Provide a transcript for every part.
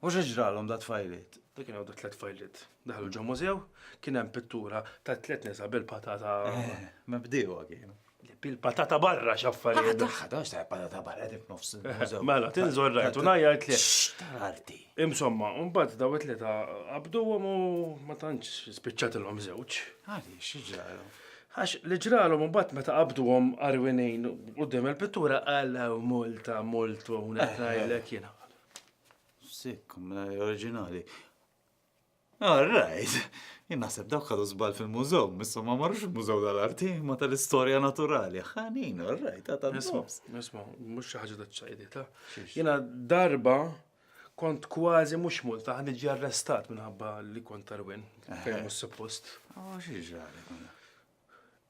U xi ġralhom dat-tfajliet? Dak kien hawn dat-tliet tfajliet. Daħlu ġo mużew, kien hemm pittura ta' tliet nisa bil-patata. Eh, ma bdiewa kienu. Bil-patata barra x'affarijiet. Daħħa, daħħa, x'ta' patata barra dik nofs. Mela, tinżor rajt u ngħajjart li. X'tarti. Insomma, mbagħad daw it-tliet qabduhom u ma tantx spiċċatilhom żewġ. Għadi, xi ġralhom? Għax li ġralhom mbagħad meta qabdu għom arwinin u d-dem il-pittura għallaw multa, multu, unek eh, eh. għajlek jena. Sick, mela oriġinali. All right. Jien naħseb dawk ħadu żball fil-mużew, missu ma marrux il-mużew tal-arti, ma tal-istorja naturali. Ħanin, all right, ta' ta' Nisma, nisma, mux xaħġa ta' ċajdi, ta' jena darba kont kważi mux multa għan iġi arrestat minħabba li kont tarwin, fejn mux suppost. Oh, xiex għalek.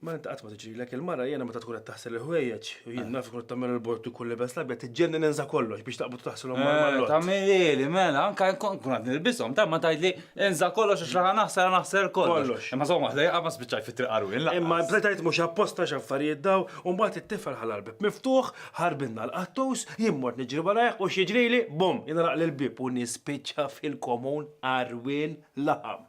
Ma inti qatt ma tiġrilek il-mara jiena meta tkun qed taħsel il-ħwejjeġ u jien naf ikun tagħmel il-bord ikun libes l-abjad tiġġenni ninsa kollox biex taqbad taħsilhom mal-mallott. Eh, Tagħmilili, mela, anke nkun qed nilbishom ta' ma tgħidli insa kollox għax raħa naħsel naħsel kollox. Imma żomm waħda jaqa' ma spiċċaj fit-triq qarwien laqas. Imma bdejt tgħid mhux apposta x'affarijiet daw u mbagħad it-tifel ħalla l-bieb miftuħ, ħarbinna l-qattus, jien mort niġri warajh u x'jiġrili, bum, jinagħlaqli l-bieb u nispiċċa fil-komun qarwien laħam.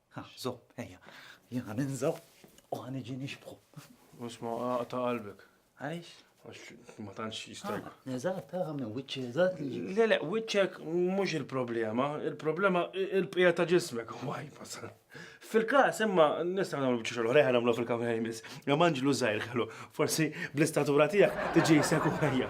Ħa, żomm, ejja. Jien ħa ninża' u ħa niġi nixbħu. Isma' aqta' qalbek. Għaliex? Għax ma tantx jista'. Eżatt, tara minn wiċċi eżatt li. Le, le, wiċċek mhux il-problema, il-problema il-bqija ta' ġismek u għajbas. Fil-każ imma nistgħu nagħmlu biex xogħol ħeħ nagħmlu fil-kamra jmiss. Jew anġlu żgħir ħelu, forsi bl-istatura tiegħek tiġi jseku ħajja.